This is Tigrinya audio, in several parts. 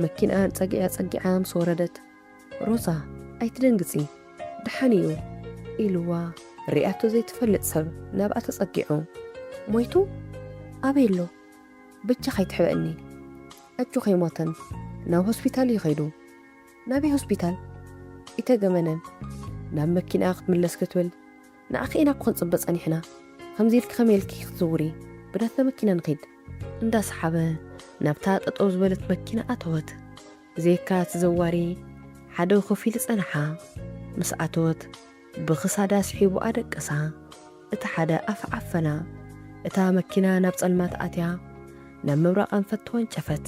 መኪንኣን ጸግዒ ኣጸጊዓ ምስ ወረደት ሮዛ ኣይትደንግጺ ደሓን እዩ ኢልዋ ርያቶ ዘይትፈልጥ ሰብ ናብኣ ተጸጊዑ ሞይቱ ኣበይ ኣሎ ብቻ ከይትሕበእኒ ኣጆ ከይሞተን ናብ ሆስፒታል እዩ ከይዱ ናበይ ሆስፒታል ኢተገመነን ናብ መኪና ክትምለስ ክትብል ንዓኺ ኢና እኮ ክንጽበ ጸኒሕና ከምዚ ኢልኪ ከመይ ኢልኪ ክትዝውሪ ብናትና መኪና ንኺድ። እንዳ ሰሓበ ናብታ ጠጠው ዝበለት መኪና ኣተወት ብዘይካ እቲ ዘዋሪ ሓደ ኮፍ ኢሉ ጸንሓ ምስ ኣተወት ብኽሳዳ ስሒቡ ኣደቀሳ እቲ ሓደ ኣፍ ዓፈና እታ መኪና ናብ ጸልማት ኣትያ ናብ ምብራቕ ኣንፈት ተወንጨፈት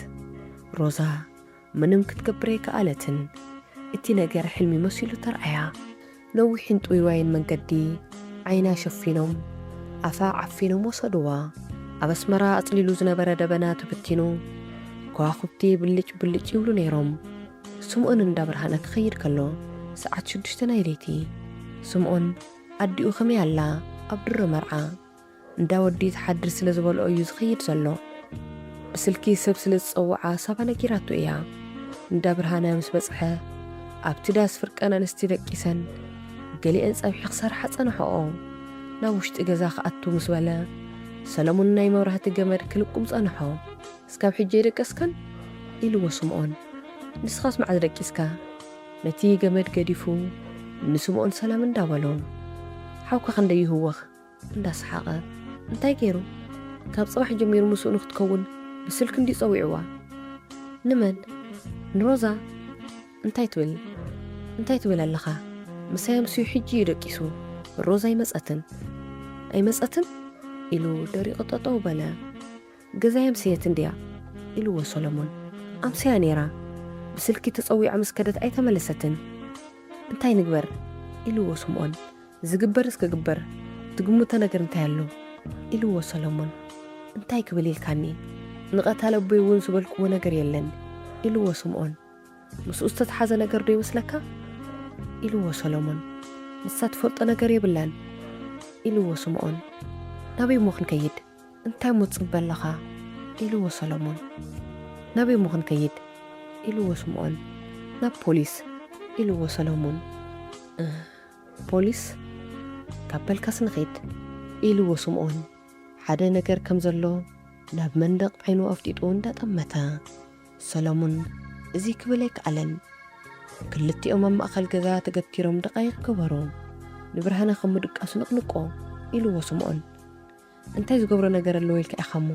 ሮዛ ምንም ክትገብር ኣይከኣለትን። እቲ ነገር ሕልሚ መሲሉ ተርኣያ። ነዊሕን ጥውይዋይን መንገዲ ዓይና ሸፊኖም፣ ኣፋ ዓፊኖም ወሰድዋ። ኣብ ኣስመራ ኣጽሊሉ ዝነበረ ደበና ተበቲኑ፣ ከዋኹብቲ ብልጭ ብልጭ ይብሉ ነይሮም። ስምኦን እንዳ ብርሃነ ክኸይድ ከሎ ሰዓት ሽዱሽተ ናይ ለይቲ። ስምኦን፣ ኣዲኡ ከመይ ኣላ? ኣብ ድሮ መርዓ። እንዳ ወዲ ትሓድር ስለ ዝበልኦ እዩ ዝኸይድ ዘሎ ብስልኪ ሰብ ስለ ዝጸውዓ ሳባ ነጊራቶ እያ እንዳ ብርሃነ ምስ በጽሐ ኣብቲ ዳስ ፍርቀን ኣንስቲ ደቂሰን ገሊኤን ጸብሒ ክሰርሓ ጸንሐኦ ናብ ውሽጢ ገዛ ክኣቱ ምስ በለ ሰለሙን ናይ መብራህቲ ገመድ ክልቁም ጸንሖ እስካብ ሕጂ ኣይደቀስካን ኢልዎ ስምኦን ንስኻስ መዓዝ ደቂስካ ነቲ ገመድ ገዲፉ ንስምኦን ሰላም እንዳ በሎ ሓውካ ክንደይ ይህወኽ እንዳ ሰሓቐ፣ እንታይ ገይሩ? ካብ ጽባሕ ጀሚሩ ምስኡ ንኽትከውን ብስልኪ እንድዩ ጸዊዑዋ። ንመን? ንሮዛ? እንታይ ትብል? እንታይ ትብል ኣለኻ? ምሳይ ኣምስዩ ሕጂ እዩ ደቂሱ። ሮዛ ኣይመጸትን። ኣይመጸትን? ኢሉ ደሪቑ ጠጠው በለ። ገዛይ ኣምሰየት እንድያ ኢልዎ ሰሎሞን። ኣምስያ ነይራ። ብስልኪ ተጸዊዓ ምስ ከደት ኣይተመለሰትን። እንታይ ንግበር? ኢልዎ ስምኦን። ዝግበርስ ክግበር፣ ትግምቶ ነገር እንታይ ኣሎ? ኢልዎ ሰሎሞን። እንታይ ክብል ኢልካኒ? ንቐታሊ ኣቦይ እውን ዝበልክዎ ነገር የለን። ኢልዎ ስምኦን። ምስኡ ዝተትሓዘ ነገር ዶ ይመስለካ? ኢልዎ ሰሎሞን። ንሳ ትፈልጦ ነገር የብላን። ኢልዎ ስምኦን። ናበይ እሞ ክንከይድ? እንታይ እሞ ትጽበ ኣሎኻ? ኢልዎ ሰሎሞን። ናበይ እሞ ክንከይድ? ኢልዎ ስምኦን። ናብ ፖሊስ! ኢልዎ ሰሎሞን። እህ! ፖሊስ? ካብ በልካስ ንኺድ! ኢልዎ ስምኦን ሓደ ነገር ከም ዘሎ ናብ መንደቕ ዓይኑ ኣፍጢጡ እንዳ ጠመተ። ሰሎሞን እዚ ክብል ኣይከኣለን። ክልቲኦም ኣብ ማእከል ገዛ ተገቲሮም ደቓይቕ ገበሩ። ንብርሃነ ከም ምድቃሱ ነቕንቆ! ኢልዎ ስምኦን። እንታይ ዝገብሮ ነገር ኣለዎ ኢልካ ኢኻ'ሞ?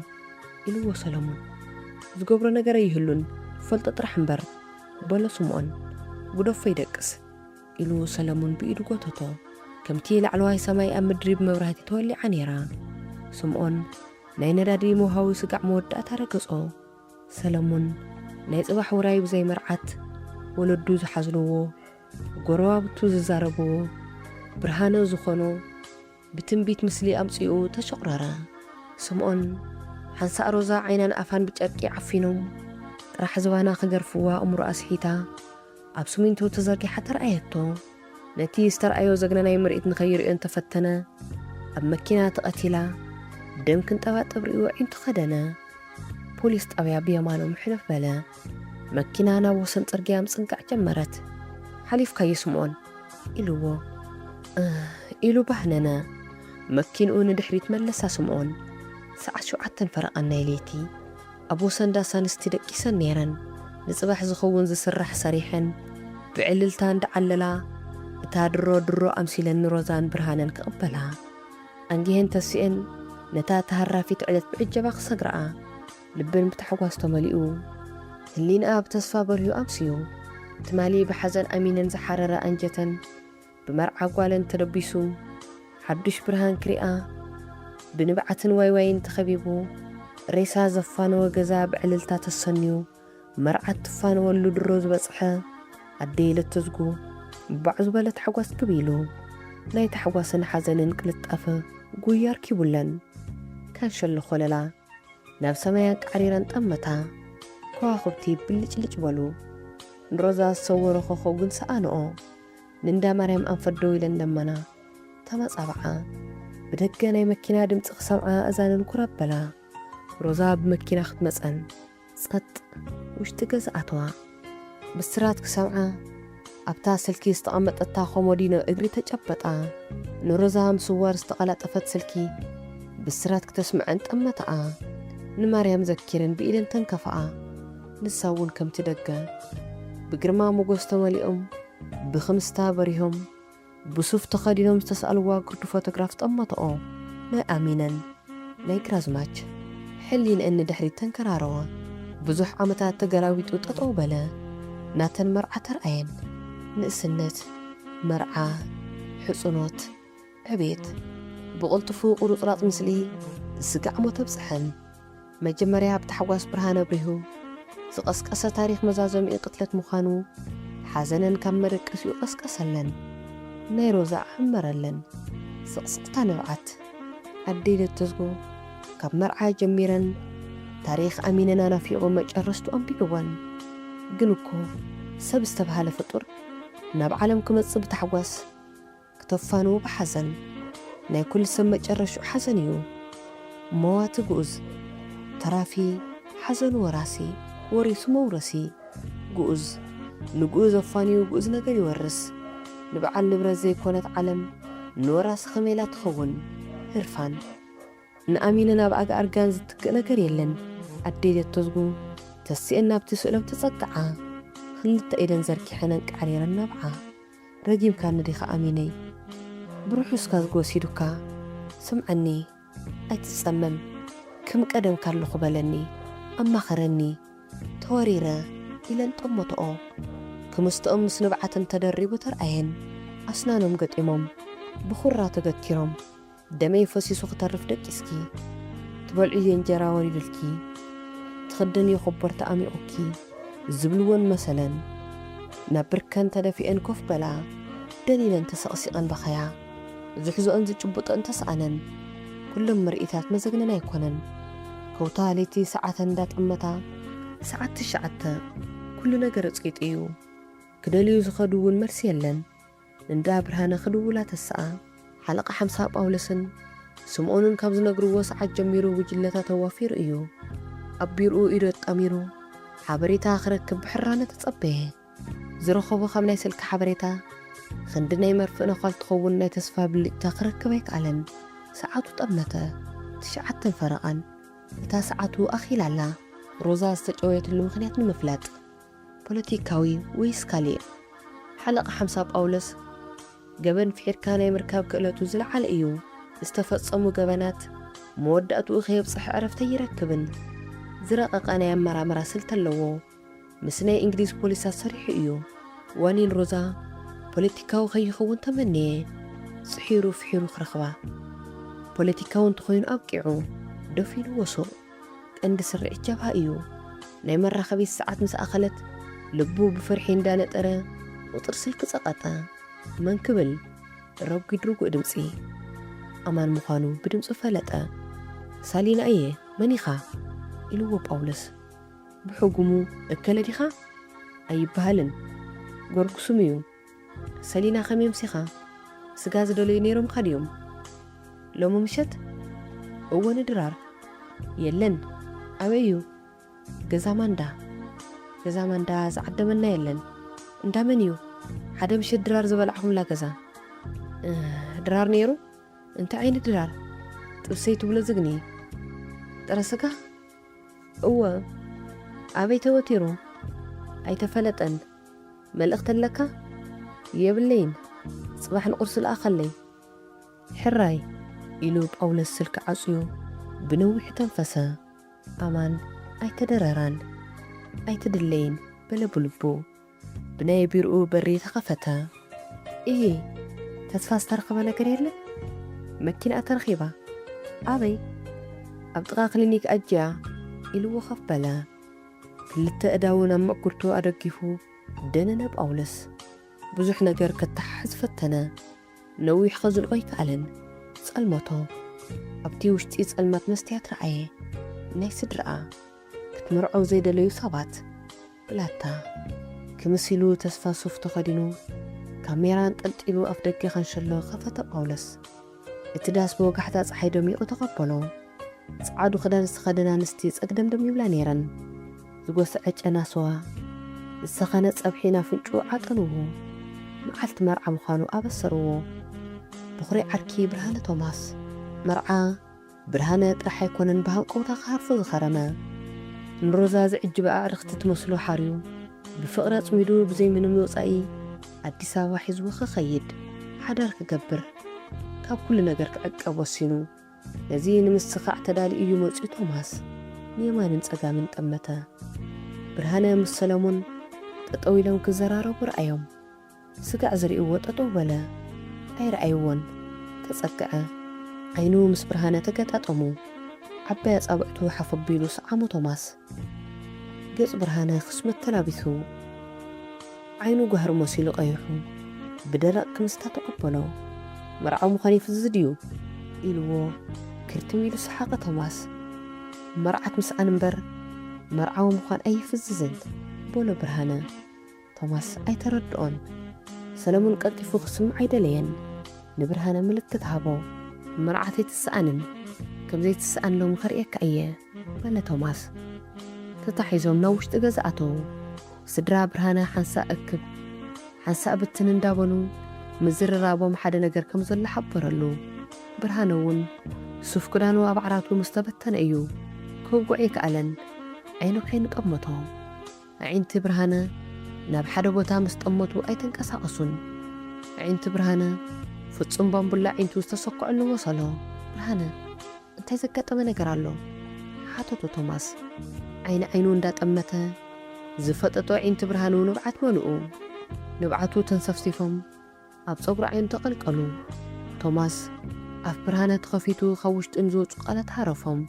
ኢልዎ ሰሎሞን። ዝገብሮ ነገር ኣይህሉን፣ ትፈልጦ ጥራሕ እምበር፣ በሎ ስምኦን። ግደፎ ይደቅስ። ኢሉ ሰለሙን ብኢዱ ጎተቶ። ከምቲ ላዕለዋይ ሰማይ ኣብ ምድሪ ብመብራህቲ ተወሊዓ ነይራ። ስምኦን ናይ ነዳዲ መውሃዊ ስጋዕ መወዳእታ ረገጾ። ሰለሙን ናይ ጽባሕ ውራይ ብዘይ መርዓት ወለዱ ዝሓዝንዎ፣ ጎረባብቱ ዝዛረብዎ፣ ብርሃነ ዝኾኖ፣ ብትንቢት ምስሊ ኣምጺኡ ተሾቕረረ። ስምኦን፣ ሓንሳእ ሮዛ ዓይናን ኣፋን ብጨርቂ ዓፊኖም ጥራሕ ዝባና ክገርፍዋ ኣእምሮኣ ስሒታ ኣብ ስሚንቶ ተዘርጊሓ ተርኣየቶ። ነቲ ዝተርኣዮ ዘግነናይ ምርኢት ንከይርእዮ እንተፈተነ ኣብ መኪና ተቐቲላ ደም ክንጠባጠብ ርእዩ ኣዒንቱ ከደነ። ፖሊስ ጣብያ ብየማኖም ሕልፍ በለ። መኪና ናብ ወሰን ጽርግያ ምጽንቃዕ ጀመረት። ሓሊፍካዮ ስምኦን? ኢሉዎ። እህ! ኢሉ ባህነነ። መኪንኡ ንድሕሪት መለሳ ስምኦን። ሰዓት ሸውዓተን ፈረቓን ናይ ለይቲ። ኣብ ወሰን ዳስ ኣንስቲ ደቂሰን ነይረን። ንጽባሕ ዝኸውን ዝስራሕ ሰሪሐን ብዕልልታ እንዳዓለላ እታ ድሮ ድሮ ኣምሲለን ንሮዛን ብርሃነን ክቕበላ ኣንጊሀን ተሲኤን ነታ ተሃራፊት ዕለት ብዕጀባ ክሰግርኣ። ልበን ብታሕጓስ ተመሊኡ፣ ህሊንኣ ብተስፋ በርሁ ኣምስዩ። ትማሊ ብሓዘን ኣሚነን ዝሓረረ ኣንጀተን ብመርዓ ጓለን ተለቢሱ ሓዱሽ ብርሃን ክሪኣ ብንብዓትን ዋይዋይን ተኸቢቡ ሬሳ ዘፋነወ ገዛ ብዕልልታ ተሰንዩ መርዓት ትፋነወሉ ድሮ ዝበጽሐ ኣደይ ለተዝጉ ባዕ ዝበለ ታሕጓስ ክብ ኢሉ ናይ ታሕጓስን ሓዘንን ቅልጣፈ ጉያ ኣርኪቡለን ካንሸሎ ኮለላ ናብ ሰማይ ኣንቃዕሪረን ጠመታ፣ ከዋኽብቲ ብልጭልጭ በሉ። ንሮዛ ዝሰወሮ ኾኾብ ግን ሰኣንኦ። ንእንዳ ማርያም ኣንፈት ደው ኢለን ለመና። ተመጻብዓ። ብደገ ናይ መኪና ድምጺ ክሰምዓ ኣእዛነን ኩር ኣበላ። ሮዛ ብመኪና ክትመጸን ጸጥ ውሽጢ ገዛ ኣተዋ። ብስራት ክሰምዓ ኣብታ ስልኪ ዝተቐመጠታ ኮሞዲኖ እግሪ ተጨበጣ። ንሮዛ ምስዋር ዝተቐላጠፈት ስልኪ ብስራት ክተስምዐን ጠመታኣ። ንማርያም ዘኪረን ብኢደን ተንከፋኣ። ንሳ እውን ከምቲ ደገ ብግርማ ሞጎስ ተመሊኦም ብክምስታ በሪሆም ብሱፍ ተኸዲኖም ዝተስኣልዋ ግርዱ ፎቶግራፍ ጠመተኦ። ናይ ኣሚነን ናይ ግራዝማች ሕሊንኤን ንድሕሪት ተንከራረወ። ብዙሕ ዓመታት ተገላቢጡ ጠጠው በለ። ናተን መርዓ ተርኣየን። ንእስነት፣ መርዓ፣ ሕጹኖት፣ ዕቤት። ብቕልጡፉ ቁሩጽራጽ ምስሊ ዝስጋዕ ሞት ኣብጸሐን። መጀመርያ ብታሕጓስ ብርሃን ኣብሪሁ ዝቐስቀሰ ታሪኽ መዛዘሚኡ ቅትለት ምዃኑ ሓዘነን ካብ መደቀሲኡ ቀስቀሰለን። ናይ ሮዛ ኣሕመረለን። ስቕስቕታ ንብዓት። ኣደይ ለተዝጎ ካብ መርዓ ጀሚረን ታሪኽ ኣሚነን ኣናፊቑ መጨረስትኡ ኣንቢብወን። ግን እኮ ሰብ ዝተብሃለ ፍጡር ናብ ዓለም ክመጽእ ብታሕጓስ፣ ክተፋንዉ ብሓዘን ናይ ኩሉ ሰብ መጨረሽኡ ሓዘን እዩ መዋቲ ግኡዝ ተራፊ ሓዘኑ ወራሲ ወሪሱ መውረሲ ግኡዝ ንግኡዝ ኣፋንዩ ግኡዝ ነገር ይወርስ ንብዓል ንብረት ዘይኮነት ዓለም ንወራሲ ከመይ ኢላ ትኸውን ህርፋን ንኣሚነ ናብ ኣጋ ኣርጋን ዝትክእ ነገር የለን ኣደይ ዘተዝጉ ተሲኤን ናብቲ ስእሎም ተጸግዓ ክልተ ኢደን ዘርጊሐን ኣንቃዕሪረን ናብዓ። ረጊምካኒ ዲኻ ኣሚነይ ብርሑስ ካዝግ ወሲዱካ ስምዓኒ ኣይትጸመም ክም ቀደምካ ኣለኹ በለኒ ኣማኸረኒ ተወሪረ ኢለን ጠመተኦ ክምስተኦም ምስ ንብዓተን ተደሪቡ ተርኣየን ኣስናኖም ገጢሞም ብኹራ ተገቲሮም ደመይ ፈሲሱ ክተርፍ ደቂስኪ ትበልዕዮ እንጀራ ወሪዱልኪ ትኽደንዮ ኮቦርታ ኣሚቑኪ ዝብልወን መሰለን ናብ ብርከን ተደፊኤን ኮፍ በላ ደኒነን ተሰቕሲቐን በኸያ ዝሕዞኦን ዝጭብጦኦን ተስኣነን ኩሎም ምርኢታት መዘግነን ኣይኮነን ከውታ ለይቲ ሰዓተን እንዳጠመታ ሰዓት ትሽዓተ ኩሉ ነገር ጺጥ እዩ ክደልዩ ዝኸዱ እውን መልሲ የለን። እንዳ ብርሃነ ክድውላ ተሰኣ ሓለቓ ሓምሳ ጳውሎስን ስምኦንን ካብ ዝነግርዎ ሰዓት ጀሚሩ ጉጅለታት ኣዋፊሩ እዩ። ኣብ ቢሮኡ ኢዱ ኣጣሚሩ ሓበሬታ ክረክብ ብሕራነ ተጸበየ። ዝረኸቦ ካብ ናይ ስልኪ ሓበሬታ ኽንዲ ናይ መርፍእ ነዃል ትኸውን ናይ ተስፋ ብልጭታ ክረክብ ኣይከኣለን። ሰዓቱ ጠመተ። ትሽዓተን ፈረቓን። እታ ሰዓቱ ኣኺላ ኣላ። ሮዛ ዝተጨወየትሉ ምኽንያት ንምፍላጥ ፖለቲካዊ ወይስ ካልእ? ሓለቓ ሓምሳ ጳውሎስ፣ ገበን ፍሒርካ ናይ ምርካብ ክእለቱ ዝለዓለ እዩ፣ ዝተፈጸሙ ገበናት መወዳእትኡ ከየብጽሐ ዕረፍቲ ኣይረክብን። ዝረቐቐ ናይ ኣመራምራ ስልቲ ኣለዎ። ምስ ናይ እንግሊዝ ፖሊሳት ሰሪሑ እዩ። ዋኒን ሮዛ ፖለቲካዊ ከይኸውን ተመነየ፣ ጽሒሩ ፍሒሩ ክረኽባ። ፖለቲካዊ እንተኾይኑ ኣብቂዑ፣ ደፊንዎ ሱቕ። ቀንዲ ስርዒት ጀብሃ እዩ። ናይ መራኸቢት ሰዓት ምስ ኣኸለት ልቡ ብፍርሒ እንዳነጠረ ቁጽሪ ስልኪ ጸቐጠ። መን ክብል ረጒድ ርጉእ ድምጺ ኣማን ምዃኑ ብድምጹ ፈለጠ። ሳሊና እየ መን ኢኻ? ኢልዎ ጳውሎስ ብሕጉሙ። እከለ ዲኻ? ኣይብሃልን ጎርጉሱም እዩ። ሰሊና ከመይ ኣምሲኻ ስጋ ዝደለዩ ነይሮምካ ድዮም ሎሚ ምሸት? እወ ንድራር የለን ኣበይ እዩ ገዛ ማንዳ ገዛ ማንዳ ዝዓደመና የለን እንዳ መን እዩ ሓደ ምሸት ድራር ዝበላዕኹምላ ገዛ ድራር ነይሩ እንታይ ዓይነት ድራር ጥብሰይ ትብሎ ዝግኒ ጥረ ስጋ እወ ኣበይ ተወቲሩ ኣይተፈለጠን መልእኽቲ ኣለካ? የብለይን፣ ጽባሕ ንቝርሲ ልኣኸለይ። ሕራይ፣ ኢሉ ጳውሎስ ስልኪ ዓጽዩ ብነዊሑ ተንፈሰ። ኣማን፣ ኣይተደረራን። ኣይትድለይን፣ በለ ብልቡ። ብናይ ቢሮኡ በሪ ተኸፈተ። እሂ፣ ተስፋ ዝተረኽበ ነገር የለን? መኪናኣ ተረኺባ። ኣበይ? ኣብ ጥቓ ክሊኒክ ኣጅያ፣ ኢሉ ወኸፍ በለ። ክልተ ኣእዳዉ ናብ ምዕጕርቱ ኣደጊፉ ደነነ ጳውሎስ። ብዙሕ ነገር ከተሓሕዝ ፈተነ። ነዊሕ ከዝልቆ ኣይከኣለን። ጸልመቶ። ኣብቲ ውሽጢ ጸልማት መስትያት ረኣየ። ናይ ስድራኣ። ክትምርዖ ዘይደለዩ ሰባት። ብላታ። ክምስ ኢሉ ተስፋ ሱፍ ተኸዲኑ ካሜራ ኣንጠልጢሉ ኣፍደገ ካንሸሎ ከፈተ ጳውሎስ። እቲ ዳስ ብወጋሕታ ጸሓይ ደሚቑ ተቐበሎ። ጸዓዱ ክዳን ዝተኸደና ኣንስቲ ጸግደምደም ይብላ ነይረን። ዝጎሰዐ ጨና ስዋ፣ ዝሰኸነ ጸብሒ ናፍንጭኡ ዓጠንዎ። መዓልቲ መርዓ ምዃኑ ኣበሰርዎ። በዅሪ ዓርኪ ብርሃነ ቶማስ፣ መርዓ ብርሃነ ጥራሕ ኣይኮነን ብሃንቀውታ ክሃርፎ ዝኸረመ። ንሮዛ ዝዕጅባ ኣዕርኽቲ ትመስሎ ሓርዩ ብፍቕሪ ኣጽሚዱ ብዘይ ምንም ወጻኢ ኣዲስ ኣበባ ሒዝዎ ክኸይድ ሓዳር ክገብር ካብ ኩሉ ነገር ክዕቀብ ወሲኑ። ነዚ ንምስኻዕ ተዳልዩ እዩ መጺኡ ቶማስ ንየማንን ጸጋምን ጠመተ። ብርሃነ ምስ ሰለሙን ጠጠው ኢሎም ክዘራረቡ ረኣዮም። ስጋዕ ዝርእይዎ ጠጠው በለ ኣይረኣይዎን ተጸግዐ ዓይኑ ምስ ብርሃነ ተገጣጠሙ ዓባይ ኣጻብዕቱ ሓፍ ኣቢሉ ሰዓሞ ቶማስ ገጽ ብርሃነ ክስመት ተላቢሱ ዓይኑ ጓህሪ መሲሉ ቀይሑ ብደረቕ ክምስታ ተቐበሎ መርዓዊ ምዃን ይፍዝ ድዩ ኢልዎ ክርትም ኢሉ ሰሓቐ ቶማስ መርዓት ምስኣን እምበር መርዓዊ ምዃን ኣይፍዝዝን በሎ ብርሃነ ቶማስ ኣይተረድኦን። ሰለሙን ቀልጢፉ ክስምዕ ኣይደለየን። ንብርሃነ ምልክት ሃቦ። መርዓት ኣይትሰኣንን፣ ከም ዘይትሰኣን ሎሚ ከርእየካ እየ። በለ ቶማስ። ተታሒዞም ናብ ውሽጢ ገዛ ኣተዉ። ስድራ ብርሃነ ሓንሳእ እክብ ሓንሳእ ብትን እንዳበሉ ምዝርራቦም ሓደ ነገር ከም ዘሎ ሓበረሉ። ብርሃነ እውን ሱፍ ክዳኑ ኣብ ዓራቱ ምስ ተበተነ እዩ ክውግዖ ኣይከኣለን። ዓይኑ ዓይኑ ጠመቶ። ኣዒንቲ ብርሃነ ናብ ሓደ ቦታ ምስ ጠመቱ ኣይተንቀሳቐሱን። ኣዒንቲ ብርሃነ ፍጹም ባምቡላ ኣዒንቱ ዝተሰኩዐሉ መሰሎ። ብርሃነ፣ እንታይ ዘጋጠመ ነገር ኣሎ? ሓተቶ ቶማስ ዓይኒ ዓይኑ እንዳጠመተ። ዝፈጠጦ ኣዒንቲ ብርሃኑ ንብዓት መልኡ። ንብዓቱ ተንሰፍሲፎም ኣብ ጸጉሪ ዓይኑ ተቐልቀሉ። ቶማስ፣ ኣፍ ብርሃነ ተኸፊቱ ካብ ውሽጢ ንዝወጹ ቃላት ሃረፎም።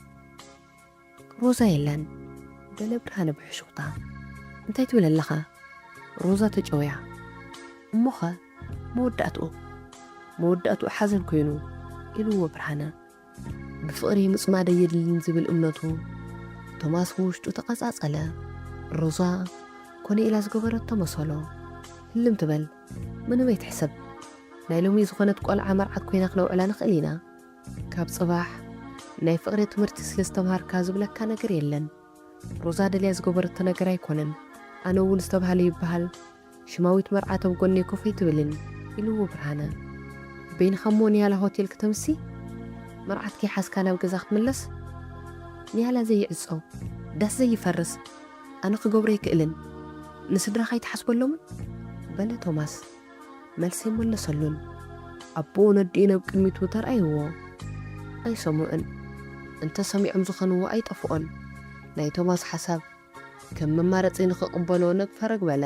ሮዛ የለን በለ ብርሃነ ብሕሹኽታ። እንታይ ትብል ኣለኻ? ሮዛ ተጨውያ። እሞኸ መወዳእትኡ? መወዳእትኡ ሓዘን ኰይኑ። ኢሉዎ ብርሃነ። ብፍቕሪ ምጽማድ ኣየድልን ዝብል እምነቱ። ቶማስ ብውሽጡ ተቐጻጸለ። ሮዛ ኰነ ኢላ ዝገበረቶ መሰሎ። ህልም ትበል። ምንም ኣይትሕሰብ። ናይ ሎሚ ዝኾነት ቈልዓ መርዓት ኰይና ክነውዕላ ንኽእል ኢና። ካብ ጽባሕ ናይ ፍቅሪ ትምህርቲ ስለ ዝተምሃርካ ዝብለካ ነገር የለን ሮዛ ደልያ ዝገበረቶ ነገር ኣይኮነን ኣነ እውን ዝተብሃለ ይብሃል ሽማዊት መርዓት ኣብ ጎነይ ኮፍ ኣይትብልን ኢልዎ ብርሃነ በይንካ እሞ ንያላ ሆቴል ክተምሲ መርዓት ከይሓዝካ ናብ ገዛ ክትምለስ ንያላ ዘይዕጾ ዳስ ዘይፈርስ ኣነ ክገብሮ ኣይክእልን ንስድራካ ኣይትሓስበሎምን በለ ቶማስ። መልሲ ኣይመለሰሉን። ኣቦኡ ነዲኡን ኣብ ቅድሚቱ ተርኣይዎ። ኣይሰምዑን። እንተ ሰሚዖም ዝኸንዎ ኣይጠፍኦን። ናይ ቶማስ ሓሳብ ከም መማረጺ ንኽቕበሎ ነግ ፈረግ በለ።